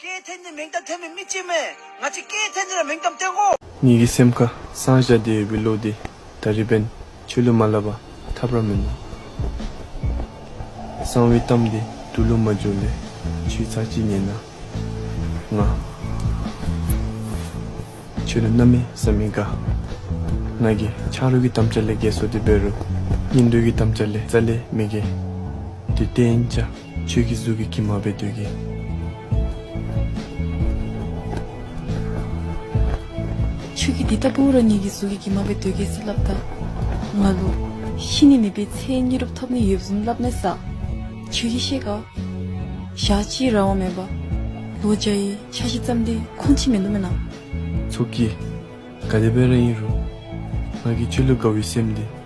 སྐྱེའི་ཐེངས་འདིར་མིང་གཏམ་འཐེན་པའི་མི་གཅིག་མེད། ང་ཚོས་སྐྱེའི་ཐེངས་འདིར་མིང་གཏམ་འཐེན་གོ། ཉིད་ཀྱི་སེམས་ཁ་སངས་བྱ་བདེ་ཡོད་པའི་ལུགས་འདི་ད་རི་པན་ཆོས་ལུགས་མ་བསླབས་པ་ཐབས་ར་མིན། གསང་བའི་གཏམ་འདི་དུ་ལུགས་མ་བྱུང་ལས་ཆུའི་ཚགས་ཀྱིས་ཉན་ན་ང། ཆོས་ལུགས་རྣམ་མེད་བསམ་མི་དགའ། ང་གི་ཆགས་རོལ་གྱི་དམ་བཅའ་ལས་རྒས་སོ་དེ་བེ་རུ་སྙིང་འདོད་ཀྱི་དམ་བཅའ་ལས་རྩ་ལས་མི་རྒས། དུས་གཏན་བཅའ། ཆོས་ཀྱི་གཟུགས་ཀྱི་ཁྱི་མ་པའི་དུས་ཀྱི། ཆོས་ཀྱི་དེ་ལྟ་བུའོ་རང་ཉིད་ཀྱི་གཟུགས་ཀྱི་ཁྱི་མ་པའི་དུས་ཀྱི་ས་བསླབ་ད། ང་ལོ། ཤི་ནས་མིད་པའི་ཚེའི་སྙི་རུབ་ཐོབ་ནས་ཡོད་བཟུང་བསླབ་ནས་ས། ཆོས་ཀྱི་ཤེས་དགའོ། བཞག་ཅི་རང་དབང་མེད་པ། ལོ་བརྒྱ་ཡི་ཆ་བཞི་བརྩམས་ཏེ་ཁོང་ཕྱི་མེད་མདོ་མེད་ན། ཚོགས་ཀྱི། དགའ་བདེ་དཔལ་རེ་ཡིན་རུང། ང་གི་ཆོས་ལུགས་དགའ་བའི་སེམས་འདི།